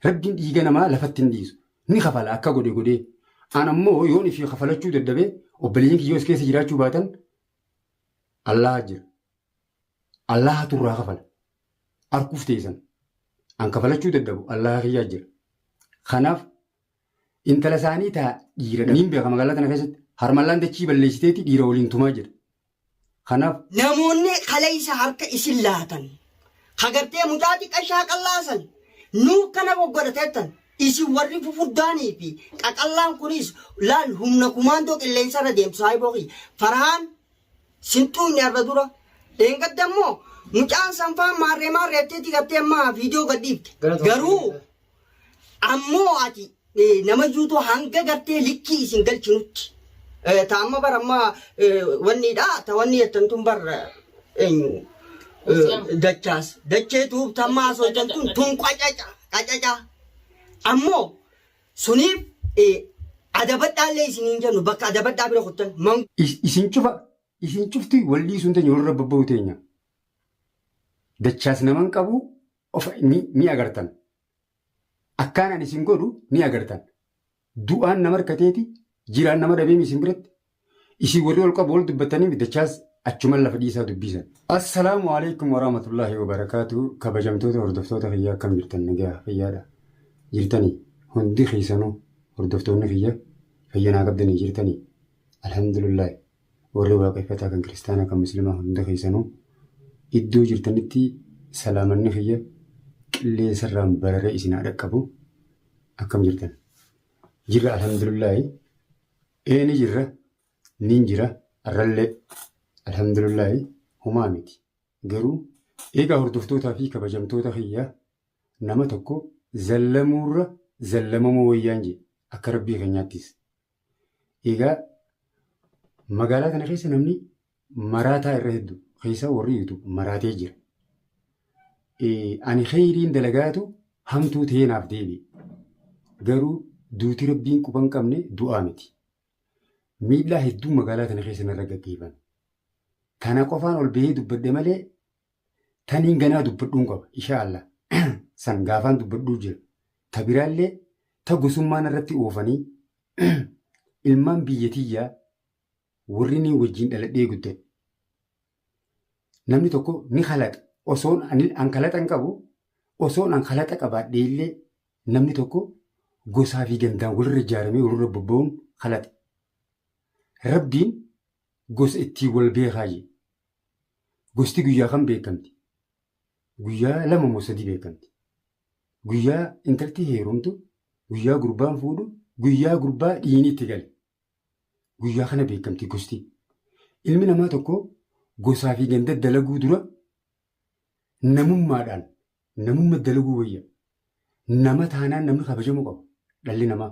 Rabbiin dhiiga namaa lafatti hin dhiisu. Ni kafala akka godhe godhee. An ammoo yoon ifii kafalachuu dadhabe obboleeyyiin kiyyoos keessa jiraachuu baatan Allaha jira. Allaha turraa kafala. Arkuuf teessan. An kafalachuu dadhabu Allaha kiyyaa jira. Kanaaf intala isaanii taa dhiira dha. Niin beeka magaalaa tana keessatti harmallaan dachii balleessiteeti dhiira waliin tumaa jira. Kanaaf. Namoonni kaleessa harka isin laatan, ka gartee mucaa xiqqa shaaqallaa san nuuf kana goggodha teettan, isin warri fufurdaanii fi qaqallaan kunis laal humna kumaandoo qilleensa irra deemtu saahiboo kiyya. Farahaan sin xuuxne arra dura. Dheengadda immoo mucaan sanfaan maarree maarreetteeti gartee ammaa viidiyoo gadhiifte. Garuu Ammoo ati eh, nama juutoo hanga gartee likkii isin galchinutti. Eh, Ta amma bar amma eh, wanniidha ta wanni jettan tun bar eh, eenyu eh, dachaas dachee tuub tammaa soitan tun tun qacaca qacaca ammoo suniif eh, adabadhaallee isin hin jennu bakka adabadhaa bira kuttan man Is- isin cufa isin cufti wallii sun teenya warra babba'u teenya dachaas naman qabu of ni, ni agartan. Akkaan ani isin godhu ni agartan. Du'aan nama harkateeti jiraan nama dhabeemi isin biratti. Isin warri ol qabu ol dubbattanii middachaas achuman lafa dhiisaa dubbisan. Assalaamu alaikum warahmatullahi wabarakaatu kabajamtoota hordoftoota kiyyaa akkam jirtan nagaa fayyaadha jirtanii hundi keessanuu hordoftoonni kiyya fayyanaa qabdanii jirtanii alhamdulillahi Warri Waaqeffataa kan Kiristaanaa kan Muslimaa hunda keessanuu iddoo jirtanitti salaamanni kiyya qilleensarraan bararee isin haa dhaqqabu. Akkam jirtan? Jirra alhamdulillaahi. Ee ni jirra. Nin jira. Arrallee alhamdulillaahi homaa miti. Garuu eegaa hordoftootaa fi kabajamtoota kiyya nama tokko zallamuurra zallamamuu wayyaan jedhe akka rabbii keenyaattis. Egaa magaalaa kana keessa namni maraataa irra heddu keessaa warri YouTube maraatee jira. Ani kheyriin dalagaatu hamtuu ta'ee naaf deebi'e. Garuu duuti rabbiin quba hin qabne du'aa miti. Miidhaa hedduu magaalaa kana keessa narra gaggeeffame. Kana qofaan ol bahee dubbadhe malee taniin ganaa dubbadhuun qaba ishaa Allah san gaafaan dubbadhuu jira ta biraallee ta gosummaan irratti oofanii ilmaan biyya tiyyaa warri ni wajjin dhaladhee guddate namni tokko ni kalaxa osoon ani- an kalaxa hin qabu osoon an kalaxa qabaadhee illee namni tokko gosaa fi gandaan walirra ijaaramee walirra bobba'uun kalaxa rabbiin gosa ittiin wal beekaa jedhe Gosti guyyaa kam beekamti? Guyyaa lama moo sadii beekamti? Guyyaa intalti heerumtu, guyyaa gurbaan fuudhu, guyyaa gurbaa dhiini itti gale. Guyyaa kana beekamti gosti. Ilmi namaa tokko gosaa fi ganda dalaguu dura namummaadhaan namumma dalaguu wayya. Nama taanaan namni kabajamuu qaba dhalli namaa.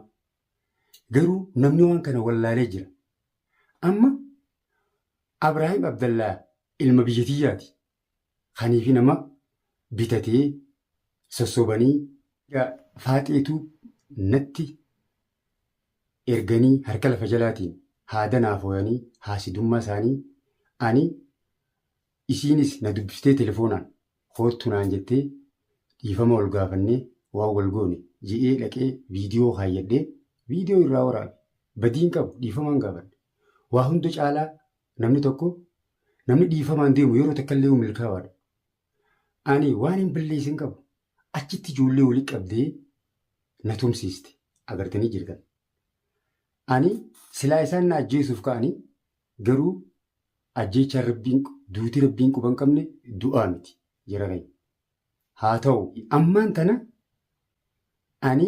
Garuu namni waan kana wallaalee jira. Amma Abraahim Abdallaa ilma biyya tiyyaati. Kaniifi nama bitatee sossobanii. Yaa Faaxee Tube natti erganii harka lafa jalaatiin haa danaafoyanii haasidummaa isaanii ani isiinis na dubbistee telefoonaan koottu naan jettee dhiifama wal gaafannee waan wal goone je'ee dhaqee viidiyoo kaayyadhee viidiyoo irraa waraabe badii hin qabu dhiifamaan gaafadhe. Waa hunda caalaa namni tokko namni dhiifamaan deemu yeroo takka illee milkaawaadha. Ani waan hin balleessin qabu achitti ijoollee wali qabdee na tumsiiste agartanii jirtan. Ani silaa isaan na ajjeesuuf ka'anii garuu ajjeechaan rabbiin duuti rabbiin quban qabne du'aa miti jara keenya. Haa ta'u, ammaan tana ani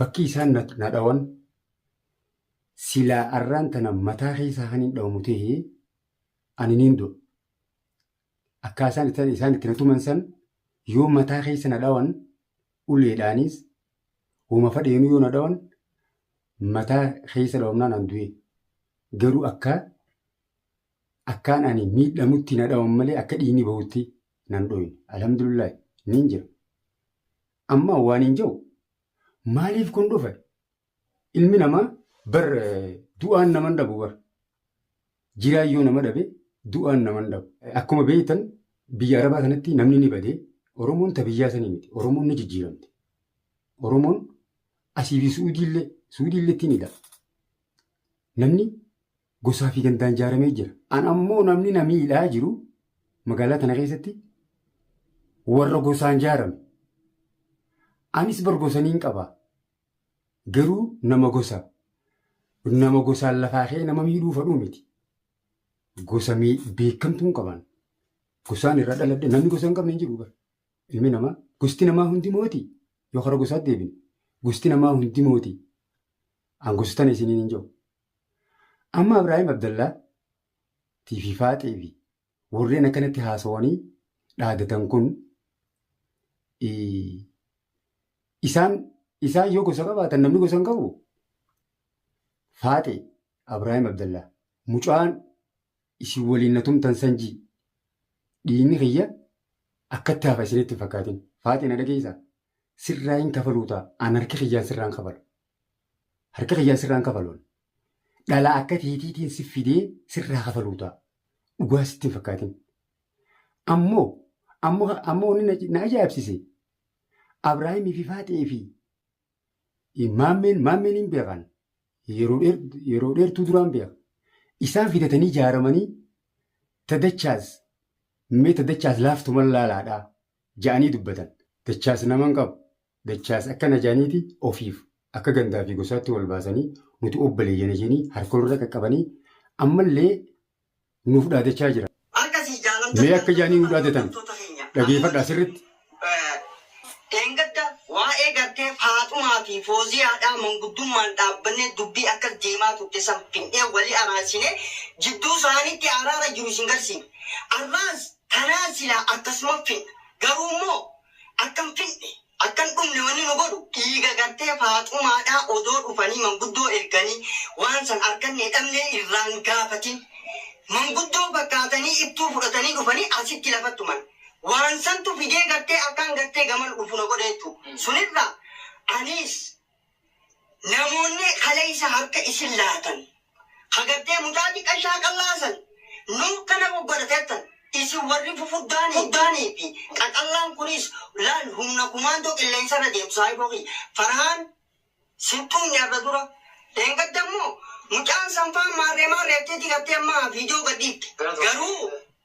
bakkii isaan na na dhawan silaa arraan tana mataa keessaa kan hin dhawamu ta'e ani niin du'a. Akkaa isaan itti- isaan itti na tuman san yoo mataa keessa na dhawan uleedhaanis homa fadheenuu yoo na dhawan mataa keessa dhawamnaan an du'e. Garuu akka Akkaan ani miidhamutti na dhawan malee akka dhiigni bahutti nan dhooyne. Alhamdulillahi nin jira. Amma waan hin jedhu maaliif kun dhufe? Ilmi namaa bar du'aan naman dhabu bar. Jiraan yoo nama dhabe du'aan naman dhabu. Akkuma beektan biyya Arabaa kanatti namni ni bade. Oromoon ta biyyaa sanii miti. Oromoon ni jijjiiramte. Oromoon asii fi Suudiillee Suudiilleetti ni dha. Namni gosaa fi gandaan ijaaramee jira. An ammoo namni na miidhaa jiru magaalaa tana keessatti warra gosaan ijaarame. Anis bar gosaniin qaba. Garuu nama gosa. Nama gosaan lafaa kee nama miidhuu fadhuu miti. Gosa mii- beekamtuu hin qaban. Gosaan irra dhaladhe namni gosa hin qabne hin jiru bar. Ilmi namaa gosti namaa hundi mooti. Yoo karaa gosaatti deebine gosti namaa hundi mooti. An gosa tana isiniin hin jiru. Amma Ibraahim Abdallaa tiifi faaxee fi warreen akkanatti haasawanii dhaadatan kun isaan isaan yoo gosa qabaatan namni gosa hin qabu. Faaxee Ibraahim Abdallaa mucaan isin waliin na tumtan sanjii dhiinni kiyya akkatti hafa isinitti hin fakkaatin. Faaxee na dhageessaa sirraa hin kafaluu ta'a aan harki kiyyaan sirraa hin kafalu. Harka kiyyaan sirraan kafaluun. Dhala akka teetiitiin si fidee sirraa kafaluu ta'a. Dhugaa sitti hin fakkaatin. Ammoo ammoo ammoo wanni na- na ajaa'ibsiise Abrahaamii fi Faaxee fi maammeen maammeen hin beekan. Yeroo dheer- yeroo dheertuu duraan beeka. Isaan fidatanii ijaaramanii tadachaas mee tadachaas laaftuman laalaadhaa ja'anii dubbatan. Dachaas nama hin qabu. Dachaas akka Najaaniiti ofiif akka gandaa fi gosaatti wal baasanii nuti obbaleeyyana janii harka walirra qaqqabanii ammallee nuuf dhaadachaa jiran. Mee akka jaanii nu dhaadatan dhageefadhaa sirritti. Dheengadda waa'ee gartee Faaxumaa fi Fooziyaadhaa manguddummaan dhaabbannee dubbii akkas deemaa turte san findhee wali araarsinee jidduu saanitti araara jiru isin garsiifne. Arraas tanaan silaa akkasuma findha. Garuummoo Akka hin fixne, akka hin dhumne wanni nu godhu dhiiga gartee Faaxumaadhaa odoo dhufanii manguddoo erganii waan san arkannee dhabnee irraa hin gaafatin. Manguddoo fakkaatanii ittuu fudhatanii dhufanii asitti lafa tuman. Waan santu fidee gartee akkaan gartee gamana dhufu na godhe jechuudha. Sunirraa aniis. Namoonni kaleessa harka isin laatan, ka gartee mucaa diqqaa shaaqallaa san nuuf kana goggodha teettan, isin warri fufuddaanii fi qaqallaan kunis laal humna kumaandoo qilleensa irra deemu saahiboo kiyya Farhaan sin tuunne arra dura, dheengadda immoo mucaan san faan maarree maarreettee ti gartee amma viidiyoo gad dhiifte. Garuu.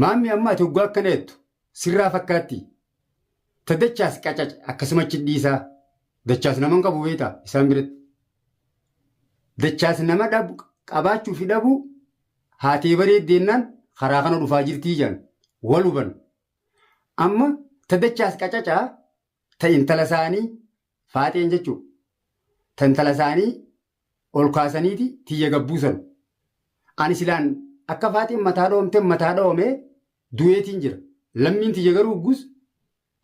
Maammi amma ati oggaa akkana jettu sirraa fakkaattii? Ta dachaas qacac akkasuma achi dhiisaa. Dachaas nama hin qabu beektaa isaan biratti. Dachaas nama dhabu qabaachuu fi dhabuu haatee bareeddi jennaan karaa kana dhufaa jirtii jedhan wal huban. Amma ta dachaas qacacaa Ta intala isaanii Faaxeen jechuun ta intala isaanii ol kaasaniiti tiyya gad buusan. Ani silaan akka Faaxeen mataa dhoomte mataa dhoomee du'eetiin jira. Lammiin tiyya garuu huggus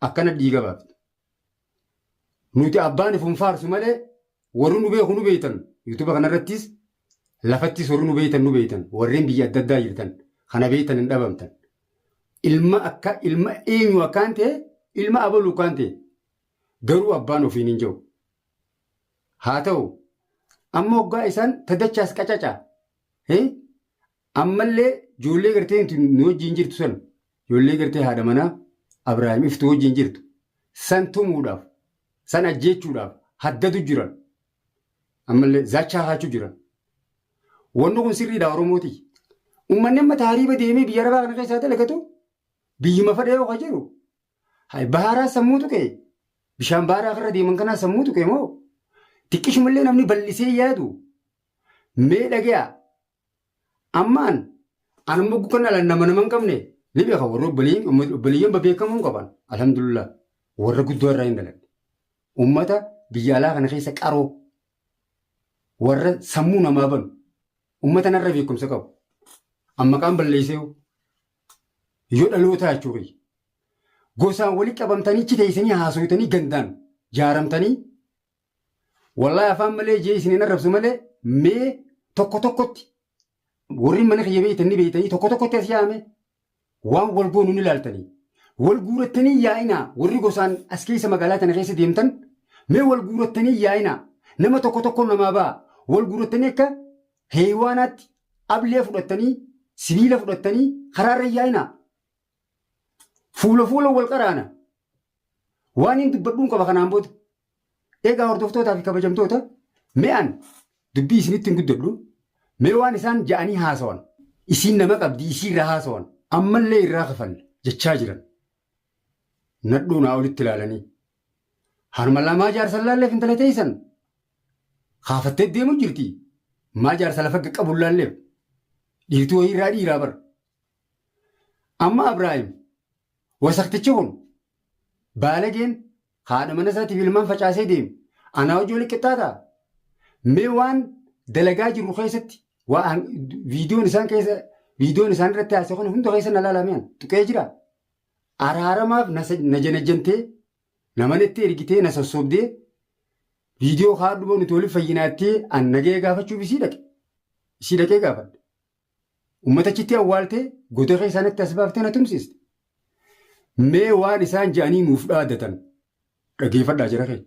akkana dhiiga baafti. Nuti abbaan ifun faarsu malee warri nu beeku nu beektan yuutuba kanarrattis Lafattis warri nu beeytan nu beeytan warreen biyya adda addaa jirtan kana beeytan hin dhabamtan. Ilma akka ilma eenyu akkaan ta'e ilma abaluu akkaan ta'e garuu abbaan ofiin hin jiru. Haa ta'u amma hoggaa isaan tadachaas qacaca ammallee ijoollee gartee nu wajjin jirtu san ijoollee gartee haadha manaa Abiraahim iftu wajjin jirtu san tumuudhaaf san ajjeechuudhaaf haddadu jiran. Ammallee zaachaa haachuu jiran. Wanni kun sirriidha Oromooti. Uummanni amma taariiba deemee biyya arabaa kana keessaa dalagatu biyyuma fadhee yoo jiru hay baaraa sammuu tuqe bishaan baaraa kanarra deeman kanaa sammuu tuqe moo xiqqishumallee namni bal'isee yaadu mee dhagaa Ammaan an amma kan ala nama nama hin qabne ni beeka warri obboleeyyiin ummati- obboleeyyiin bebeekamuu hin qaban alhamdulillah warra guddoo irraa hin dhaladhe ummata biyya alaa kana keessa qaroo warra sammuu namaa banu ummata narra beekumsa qabu an maqaan balleessee yoo dhalootaa jechuu kiyya gosaan walitti qabamtanii achi teessanii haasofitanii gandaan jaaramtanii Wallahi afaan malee jee isin hin arrabsu malee mee tokko tokkotti warri mana kiyya beeytan ni beeytanii tokko tokkotti as yaame waan wal goonu ni laaltanii. Wal guurattanii yaa'inaa warri gosaan as keessa magaalaa tana keessa deemtan mee wal guurattanii yaa'inaa nama tokko tokko namaa ba'a wal guurattanii akka heeywaanaatti ablee fudhattanii sibiila fudhattanii karaarra yaa'inaa Fuula fuula wal qaraana. Waan hin dubbadhuun qaba kanaan booda. Egaa hordoftootaa fi kabajamtoota me'an dubbii isinitti hin guddadhu. Mee waan isaan ja'anii haasawan. Isiin nama qabdi isii irraa haasawan. Ammallee irraa kafalle jechaa jiran. Nadhuu naa olitti ilaalanii. Harma lamaa jaarsan laalleef intala teessan. Kaafattee deemu jirti. Maa jaarsa lafa qabu laalleef. Dhiirtuu wayii irraa dhiiraa bar. Amma Abraahim wasaktichi kun baalageen haadha mana isaatiif ilmaan facaasee deeme anaa hojii walitti qixxaataa? Mee waan dalagaa jirru keessatti waan viidiyoon isaan keessa viidiyoon isaan irratti haasa'e kun hunda keessa na laalameen tuqee jira. Araaramaaf na sa- na janajjantee nama natti ergitee na sossobdee viidiyoo kaadhu boo nuti waliif fayyinaattee an nagaya gaafachuuf isii dhaqe. Isii dhaqee gaafadhe. Uummata achitti awwaaltee goda keessaa natti as baaftee na tumsiste. Mee waan isaan jedhanii nuuf dhaadatan dhageeffadhaa jara kee.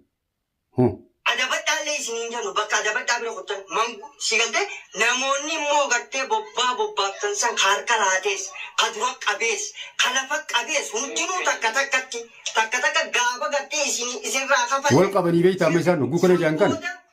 Hoo. Adabadhaallee isiniin jennu bakka adabadhaa bira kuttan mangu si galtee namoonni immoo gartee bobbaa bobbaaftan san ka harka laatees ka dura qabees ka lafa qabees hundinuu takka takkatti takka takka gaafa gartee isin isinirraa Wal kafalle qabanii beektaa amma isaan hogguu kana jedhan kana. san booda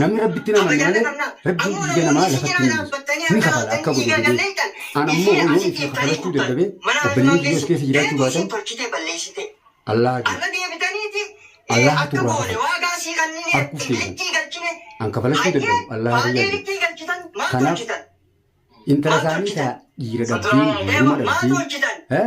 Namni rabbitti hin amanne malee rabbiin dhiiga namaa lafatti hin dhiisu. Ni kafala akka godhe godhee. An ammoo yoo isin kafalachuu dadhabee obboleeyyan kiyya as keessa jiraachuu baatan Allaha jira. Allaha turraa kafala. Arguuf keessan. An kafalachuu dadhabu Allaha kiyyaa jira. Kanaaf intala isaanii taa dhiira dhabdee hiyyumma dhabdee eh,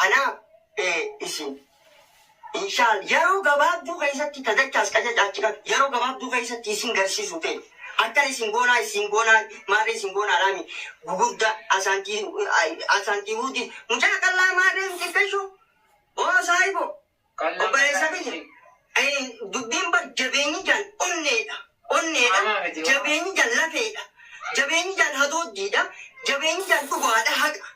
Kanaaf ee isin inshaal yaroo gabaabduu keessatti ta dachaas qacacaachi kan yaroo gabaabduu keessatti isin garsiisu tee akkana isin goonaa isin goonaa maarree isin goonaa dhaami gugurda asaantii asaantii huudi mucaa qallaa maarree hin xiqqeshu oo saahiboo Obboleessa kiyya eh, dubbiin bar jabeenyi jaan onneedha, onneedha, jabeenyi jaan lafeedha, jabeenyi jaan hadooddiidha, jabeenyi jaan dhugaadha, haqa.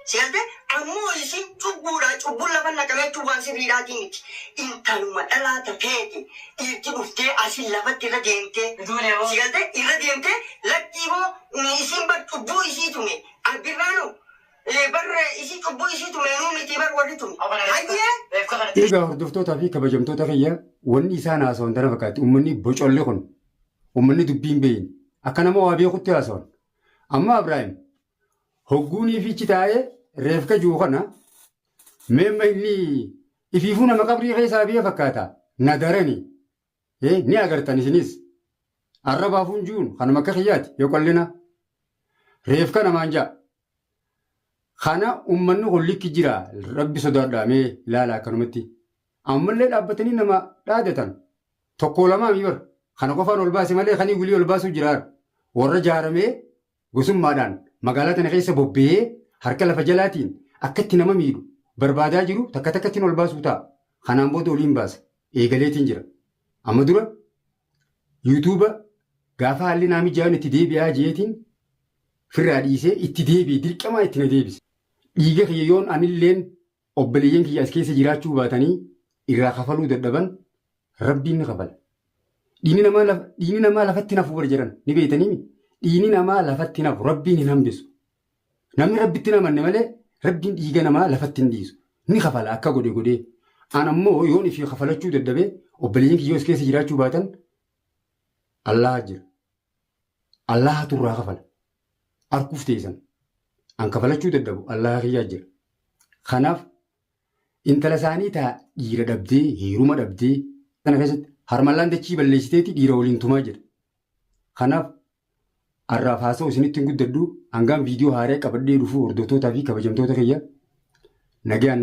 Si galtee? Ammoo isiin cubbuudha, cubbuun lafa naqame jechuun waan sirriidhaatii miti. Intaluma dhalaa tateeti dhiirti dhuftee asiin lafatti irra deemtee. Ijoollee hoo? Si galtee? Irra deemtee lakkii hoo isiin bar cubbuu isii tume abbirraanoo. Ee bar isii cubbuu isii tume nuu mitii bar warri tume. Hayyee. Eegaa hordoftootaa fi kabajamtoota kiyya wanni isaan haasawan tana fakkaatti ummanni bocolli kun ummanni dubbii hin beeyne akka nama waa beekutti haasawan amma Abraahim hogguun ifichi taa'ee reefka jiru kana meemma inni ifiifuu nama qabrii keessaa biyya fakkaata na darani Ee, ni agartan isinis. Arrabaa funjuun kanuma akka kiyyaati yoo qallina. Reefka namaan ja'a. Kana ummanni kun likki jira rabbi sodaadhaa mee ilaala akkanumatti. Ammallee dhaabbatanii nama dhaadatan tokko lamaa mibar kana qofaan ol baase malee kanii wilii ol baasuu jiraar warra jaaramee gosummaadhaan magaalaa tana keessa bobba'ee harka lafa jalaatiin akkatti nama miidhu barbaadaa jiru takka takkattiin ol baasuu ta'a. Kanaan booda oliin baasa. Eegaleetiin jira. Amma dura yuutuuba gaafa haalli naa mijaa'uun itti deebi'aa jeetiin firraa dhiisee itti deebi'e dirqamaa itti na deebise. Dhiiga kiyya yoon anilleen Obboleeyyan kiyya as keessa jiraachuu baatanii irraa kafaluu dadhaban Rabbiin ni kafala. Dhiini namaa laf- dhiini namaa lafatti hin hafu bar jedhan ni beeytaniimi. Dhiini namaa lafatti hin hafu Rabbiin hin hambisu. Namni Rabbitti hin amanne malee Rabbiin dhiiga namaa lafatti hin dhiisu. Ni kafala akka godhe godhee. An ammoo yoon ifii kafalachuu dadhabee obboleeyyan kiyya as keessa jiraachuu baatan Allaah jira. Allaahatu irraa kafala. Arkuuf teessan. An kafalachuu dadhabu Allaaha kiyyaa jira. Kanaaf intala isaanii taa dhiira dhabdee heeruma dhabdee kana keessatti harmallaan dachii balleessiteeti dhiira waliin tumaa jira. Kanaaf har'aaf haasa'u isinitti hin guddadhu hangaan viidiyoo haaraa qabadhee dhufu hordoftootaa fi kabajamtoota kiyya nagaan